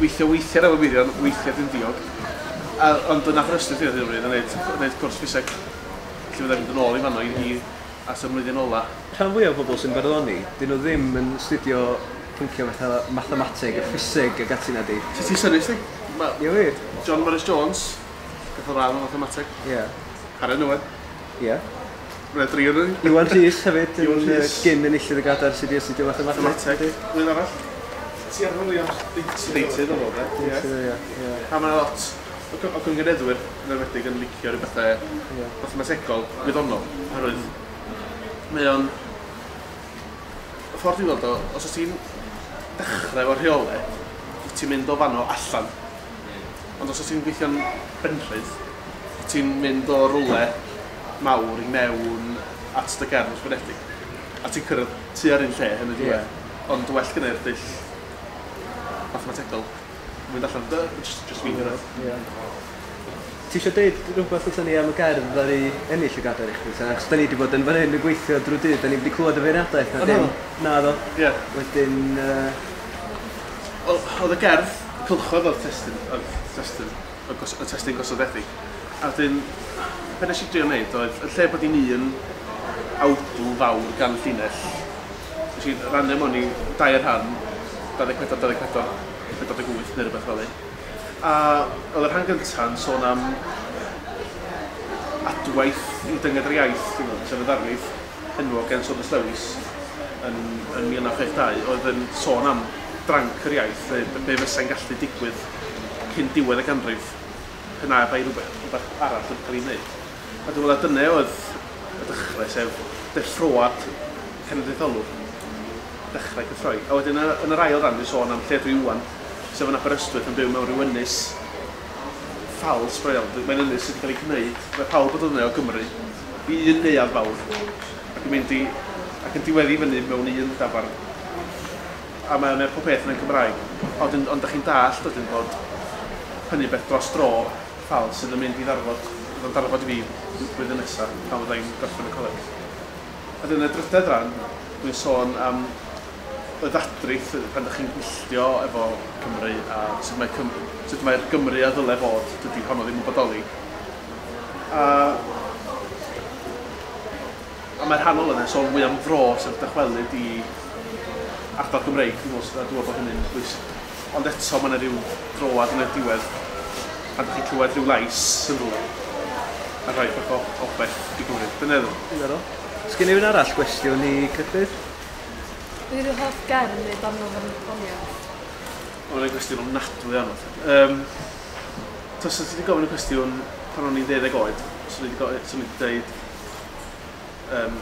Weithia weithia efo Mirion, weithia dwi'n diog. A ond dyna pam estyn fi ar hyn o bryd yn neud yn neud cwrs ffiseg. Felly fyddai'n mynd yn ôl i fanno i i at y mlwyddyn ola. Rhan fwya o bobl sy'n barddoni, 'dyn nhw ddim yn 'studio pyncie fatha mathemateg a ffiseg ag ati nadi? Ti ti synnu sti. Ma'... Ie wir? John Morris Jones, gath o dda mewn mathemateg. Ie. Harren Owen. Ie. Red Rhiannon. Iwan Rhys hefyd yn yy gyn enillydd y gadair sy 'di astudio mathemateg. Mathemateg. Rwy'n arall? Ti ar Williams deintydd. Deintydd o'dd o 'de? Ie. Deintydd ia ia. A ma' 'na lot o cy- o cyngenedwyr yn enwedig yn licio rhyw bethe... Ie. ...mathemategol gwyddonol oherwydd mae o'n y ffor dwi weld o os o's ti'n dechre efo rheole wyt ti'n mynd o fanno allan. Hmm. Ond os wyt ti'n gweithio'n benrhydd, wyt ti'n mynd o rywle mawr i mewn at dy gefn ysgrifenedig, a ti'n cyrraedd tua'r un lle yn y diwedd. Ond well gynna i'r dull mathemategol o fynd allan, dy- jyst jyst fi'n cyrraedd. Ie. Ti isio deud rhywbeth wrthon ni am y gerdd ddaru ennill y gadair i chdi ta? Achos 'dan ni 'di bod yn fan hyn yn gweithio drw'r dydd, 'dan ni'm 'di clwad y feirniadaeth na dim. O naddo? Naddo. Ie. Wedyn yy Wel, oedd y gerdd, y cylchoedd oedd testun, oedd testun, oedd gos, oedd testun gosodedig. A wedyn, be nes i drio wneud oedd, yn lle bod hi'n un awdl fawr gan llinell, nes i rannu mewn i dair rhan, 24, 24, 48 neu rhywbeth fel ni. A oedd y rhan gyntaf yn sôn am adwaith i dynged yr iaith, dwi'n meddwl, sef y ddarlith. enwog gan Saunders Lewis yn 1962 oedd yn sôn am dranc yr iaith, be fysai'n gallu digwydd cyn diwedd y ganrif pe na bai rhywbeth arall wedi cael ei wneud. A dwi'n meddwl na dyna oedd y dechrau, sef deffroad cenedlaetholwr, dechrau cythroi. A wedyn yn yr ail ran dwi'n sôn am Lledrwy Iwan, sef yn Aberystwyth yn byw mewn rhyw ynys ffals go iawn. Mae'n ynys sydd wedi cael ei gwneud, mae pawb yn dod yna o Gymru, i un neuadd fawr ac yn mynd i... ac yn diweddu fyny mewn un dafarn. A mae mae pob peth yna'n Cymraeg. A wedyn ond 'da chi'n dallt wedyn bod hynny'n beth dros dro, fel sydd yn mynd i ddarfod... fydd o'n darfod i fi bl- blwyddyn nesa pan fydda i'n gorffen y coleg. A wedyn y drydedd ran, dwi'n sôn am y ddadrith yy pan 'da chi'n gwylltio efo Cymru a sut mae Cym- sut mae'r Gymru a ddyle fod, dydy honno ddim yn bodoli. a a mae rhan ohono fe'n sôn fwy am fro sef dychwelyd i ardal Gymreig dwi'n meddwl s- a dwi'n meddwl bod hynny'n bwysig. Ond eto mae yna ryw droad yn y diwedd pan dych chi'n clywed rhyw lais yn rhywle a rhoi bach o obell i Gymru. Dyna fo. Diddorol. Sgin rhywun arall gwestiwn i Gruffydd? Be yw dy hoff gerdd neu ddarn o farddoniaeth? Ma' hwn yn gwestiwn ofnadwy o anodd. Yym. Tasa ti 'di gofyn y cwestiwn pan o'n i'n deuddeg oed, swn i 'di go- swn i 'di deud yym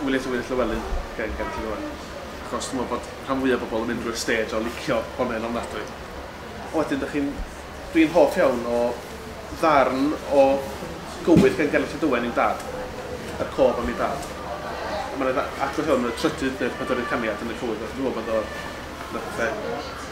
Wiliam Tywydd Llywelyn gen gen ti rŵan. Achos dwi me'wl bod rhan fwya bobol yn mynd drwy'r stêj o licio bonne'n ofnadwy. A wedyn 'dych chi'n... Dwi'n hoff iawn o ddarn o gywydd gan Gerallt Llydawen Owen i'w dad. Yr cof am ei dad. A ma' 'na dda- adborth iawn yn y trydydd neu'r pedwerydd caniad yn y cywydd a dwi me'wl bod o un o'r pethe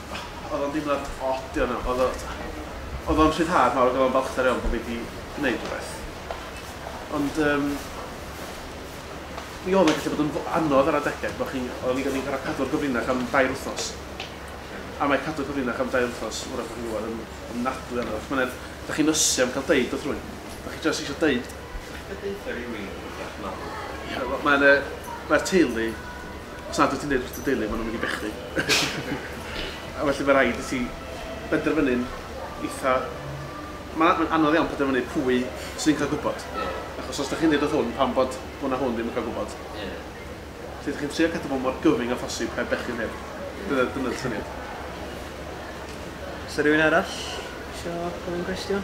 Oedd o'n deimlad od iawn iawn. Oedd o oedd o'n rhyddhad mawr ac oedd o'n balchder iawn bod fi wedi gwneud rhywbeth. Ond um, mi oedd o'n gallu bod yn anodd ar adegau bod chi'n... Oedden ni'n gorfod cael cadw'r gyfrinach am dair wythnos. A mae cadw'r gyfrinach am dair wythnos, wrach bod chi'n gwybod, yn, yn nadwy anodd. Mae'n edd, da chi'n ysu am cael deud wrth rwy'n. Da chi jyst eisiau deud. Beth ydych chi'n rhywun yn rhywbeth mawr? Ie, mae'n... Mae'r teulu Os nad wyt ti'n dweud wrth dy deulu, maen nhw'n mynd i bechu. A felly mae'n rhaid i ti benderfynu'n eitha... Mae'n anodd iawn penderfynu pwy sy'n cael gwybod. Achos os dych chi'n dweud wrth hwn pam bod hwn a hwn ddim yn cael gwybod. Felly dych chi'n trio cadw fo mor gyfyng â phosib heb bechu neb. Dyna, dyna'r syniad. Oes 'na rywun arall isio gofyn cwestiwn?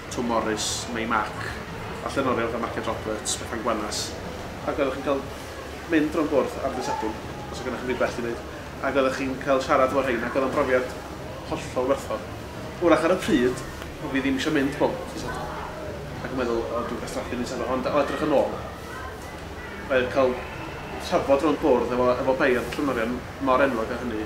Twm Morys, Mei Mac, a llenorion fel Marced Roberts, Bethan Gwanas. Ac oeddech chi'n cael mynd rownd bwrdd am ddydd Sadwrn, os oedd gennych chi'm byd gwell i wneud, ac oeddech chi'n cael siarad efo rhein, ac oedd o'n brofiad hollol werthfawr. Wrach ar y pryd, o'n fi ddim eisiau mynd bob dydd Sadwrn, ac yn meddwl, O, dwi'n gwastraffu mis Sadwrn. Ond o edrych yn ôl, oedd cael trafod rownd bwrdd efo efo beirdd a llenorion mor enwog â hynny,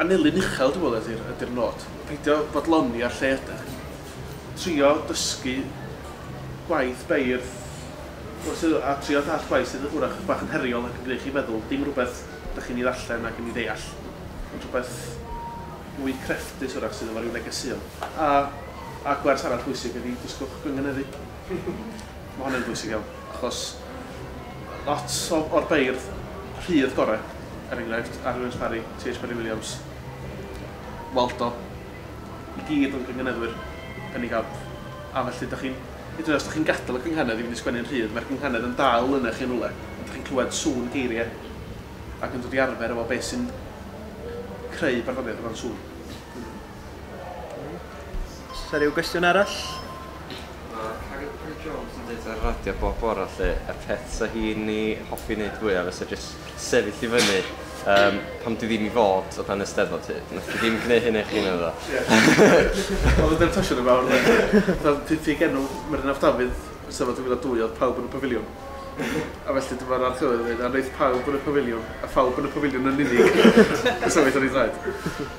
Annelu'n uchel dwi'n meddwl ydy'r ydy'r nod. Peidio bodloni ar lle ydach chi. Trio dysgu gwaith beirdd wrth y... a trio dallt gwaith sydd wrach chydig bach yn heriol ac yn gwneud chi feddwl, dim rhywbeth dach chi'n ei ddarllen ac yn ei ddeall, ond rhywbeth mwy crefftus wrach sydd efo rhyw negeseuon. A a gwers arall bwysig ydy dysgwch gynganeddu. Mae hwnna'n bwysig iawn, achos lot o, o'r beirdd rhydd gorau, er enghraifft, Arwyn Williams Parry, TH Parry Williams, Waldo, i gyd o'n cynganeddwyr yn ei gamp. A felly, da chi'n, hyd yn oed os da chi'n gadael y cynghanedd i fynd i sgwennu'n rhydd, mae'r cynghanedd yn dal yna chi'n rhywle, a da chi'n clywed sŵn geiriau, ac yn dod i arfer efo beth sy'n creu barddoniaeth o ran sŵn. Oes 'na ryw gwestiwn arall? Ma' Carrie Parry Jones yn deud ar y radio bob bore 'lly y peth 'sa hi'n 'i hoffi neud fwya fysa jys sefyll i fyny yym pam dwi ddim i fod o dan y Steddfod hyd. Nath 'i ddim gneu hynna i chi naddo? Ie. O'dd o ddim twsho neb fawr naci? Fatha pryd fi genw Meri'n Af Dafydd yn Steddfod 2002 o'dd pawb yn y pafiliwn a felly dyma'r archdderwydd yn ddeud a neith pawb yn y pafiliwn a phawb yn y pafiliwn yn unig. Fysa fe'n itha rhy draed.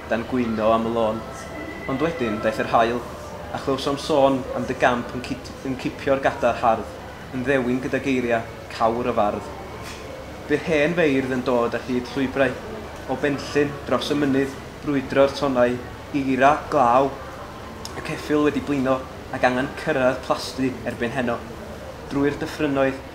dan gwyno am y lôn. Ond wedyn, daeth yr haul, a chlywsom sôn am dy gamp yn cyd yn cipio'r gadar hardd, yn ddewin gyda geiriau cawr y fardd. Bu'r hen feirdd yn dod ar hyd llwybrau, o Benllyn, dros y mynydd, brwydro'r tonnau, eira glaw y ceffyl wedi blino, ac angen cyrraedd Plasty erbyn heno. Drwy'r dyffrynnoedd,